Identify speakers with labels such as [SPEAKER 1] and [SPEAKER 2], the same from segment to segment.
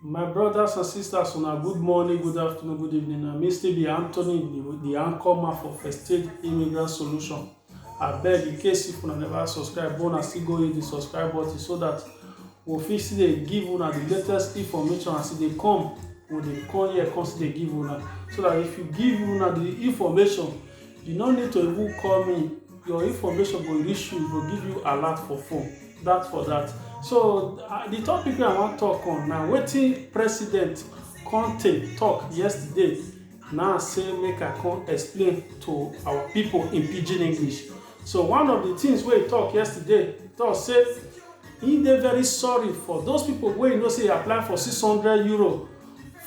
[SPEAKER 1] My brothers and sisters una good morning, good afternoon, good evening. Na me still be Anthony, the, the anchor man for First Stage Immigrant Solution. I beg in case if una never subscribe, but una still go hit the subscribe button so that we fit still dey give una the latest information as e dey come. We dey come here, come still dey give una. So that if you give una the information, you no need to even call me your information go reach you, go give you alert for phone. That for that. So uh, the topic I want to talk on now, waiting President Conte talk yesterday. Now say make I come explain to our people in pidgin English. So one of the things we talk yesterday, talk say he dey very sorry for those people wey you know say apply for 600 euro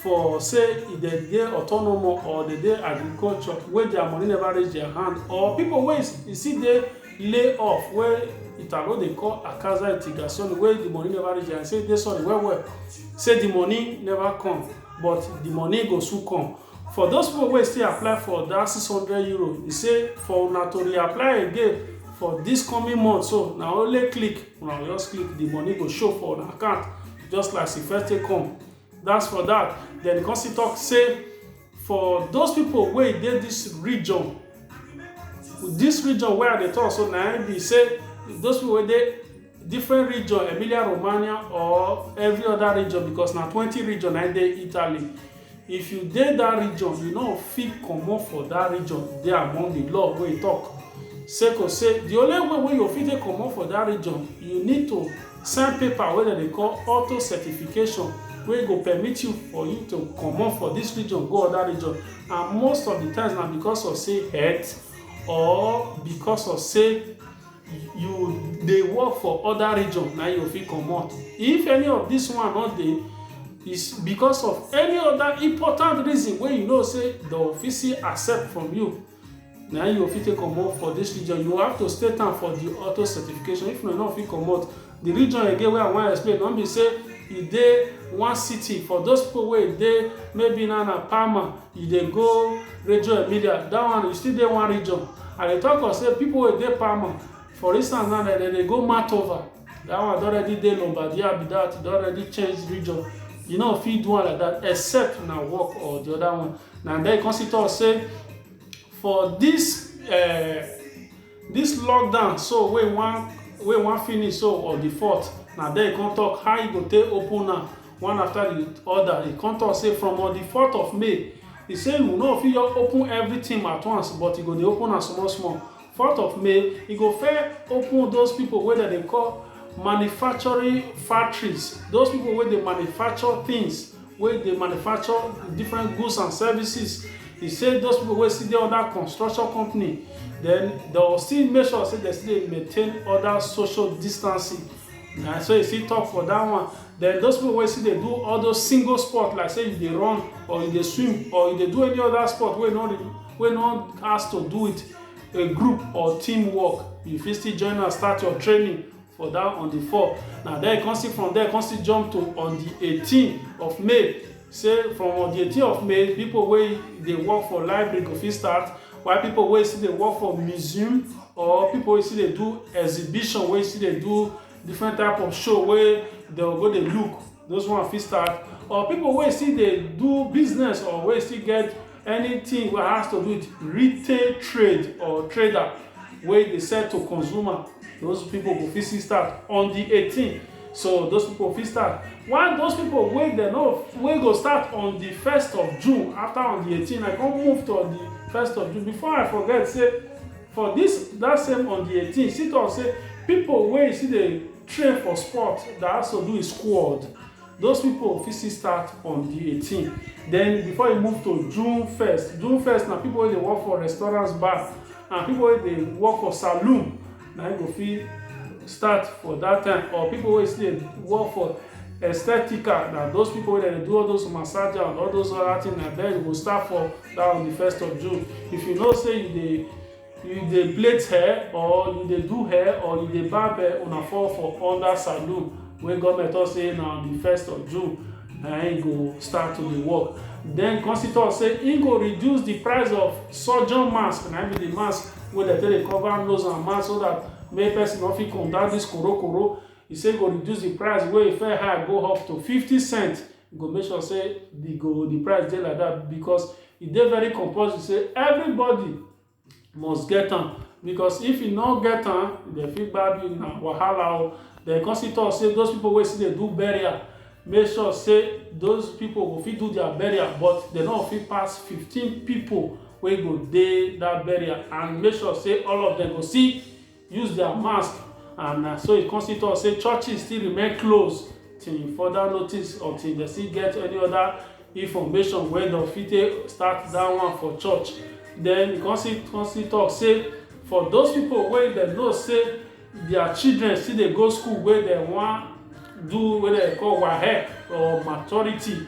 [SPEAKER 1] for say e de dey autonomo or de dey agriculture wey dia money neva reach dia hand or pipo wey e still dey lay off wey italo dey call akaza itigasoni wey di money neva reach dia hand say e dey sorry well well say di money neva come but di money go soon come for those pipo wey still apply for dat six hundred euro e say for una to reapply again for dis coming month so na only click una go just click di money go show for una account just like as e first take come That's for that. Then the Consi talk say for those people where they this region, this region where they talk so now be say those people where they different region, Emilia Romagna or every other region because now 20 region I dey Italy. If you dey that region, you know fit comot for that region dey among the law where you talk. Sake of say the only way where you fit take comot for that region, you need to Sign paper wey dem dey call auto-certification wey go permit you for you to comot for dis region go oda region and most of di times na because of say health or because of say you dey work for oda region na you go fit comot. If any of dis one no dey is because of any oda important reason wey you know say dem fit still accept from you. na you go fit take comot for this region you have to state am for the auto certification if not no fit comot the region again wey i wan explain no be say e dey one city for those people wey dey maybe na na palma you dey go radio emilia that one you still dey one region i dey talk of say people wey dey palma for instance now dem dey go matova That one don already dey Lombardia be that, e don already change region. You know, fit do one like that, except na work or the other one. Now then you come see talk say for this uh, this lockdown so wey wan wey wan finish so or the fourth, na there you come talk how you go take open am one after the other. You come talk say from on the fourth of May, you say you no fit just open everything at once, but you go dey open am small small. fourth of may e go fair open those people wey dem dey call manufacturing factories those people wey dey manufacture things wey dey manufacture different goods and services e say those people wey still dey under construction company then dem still make sure say dem still dey maintain other social distancing na so e still talk for that one then those people wey still dey do all those single sport like say you dey run or you dey swim or you dey do any other sport wey no wey no has to do with a group or team work you fit still join am start your training for that on the four na then you come see from there come still jump to on the eighteen of may say from on the eighteen of may people wey dey work for library go fit start while people wey still dey work for museum or people wey still dey do exhibition wey still dey do different type of show wey dem go dey look those one fit start or people wey still dey do business or wey still get anything wey has to do with retail trade or trader wey dey sell to consumer those people go fit still start on the 18th so those people fit start while those people wey dem no wey go start on the 1st of june after on the 18th i come move to on the 1st of june before i forget say For dis dat same on di eighteen, she tok say pipo wey still dey train for sport da also do e squad. Those pipo fit still start on di eighteen den before e move to June first. June first na pipo wey dey work for restaurants, bars and pipo wey dey work for saloon na im go fit start for dat time or pipo wey still dey work for. Estetica na those people wey dem dey do all those massage and all those other thing na there you go start for that on the first of June. If you know say you dey you dey plait hair or you dey do hair or you dey barb hair una fall for under saloon wey government talk say na on the first of June na im go start to dey work. Then come still talk say im go reduce the price of surgeon mask na im be the mask wey dem take dey cover nose and mouth so that make person no fit contact this koro koro He say go reduce the price wey e fair high go up to 50 cents. E go make sure say the go the price dey like that because e dey very compulsory say everybody must get am because if you no get am, they fit gbab you na wahala o. Then come still talk say those people wey still dey do burial, make sure say those people go fit do their burial but they no fit pass 15 people wey go dey that burial and make sure say all of them go see use their mask and uh, so e come still talk say churches still remain closed till further notice or till dem still get any other information wey dem fit take start that one for church then e come still come still talk say for those people wey dem know say their children still dey go school wey dem wan do wey dem call wahec or maturity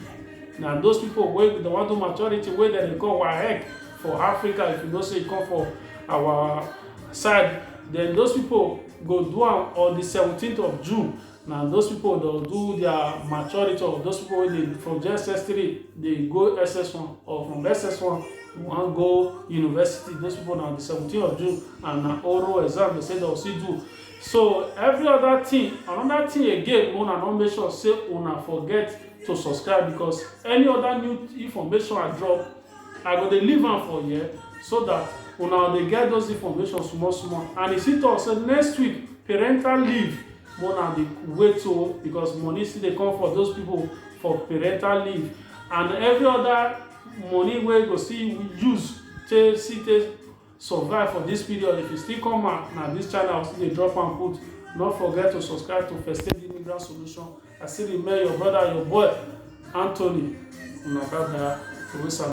[SPEAKER 1] na those people wey dem wan do maturity wey dem dey call wahec for africa if you know say you come for our side then those people go do am on the 17th of june na those people don do their maturity of those people wey dey from jss3 dey go ss1 or from ss1 wan go university those people na on the 17th of june and na oral exam dem say dem still do so every other thing another thing again una don make sure say una forget to subscribe because any other new information i drop I go dey leave am for here so that una dey get those information small small and he still talk say next week parental leave mona dey wait o oh, because money still dey come for those people for parental leave and every other money wey go still use take see take survive for this period if you still come out na this channel still dey drop am put no forget to subscribe to first aid immigrant solution i still remain your brother your boy anthony una bye bye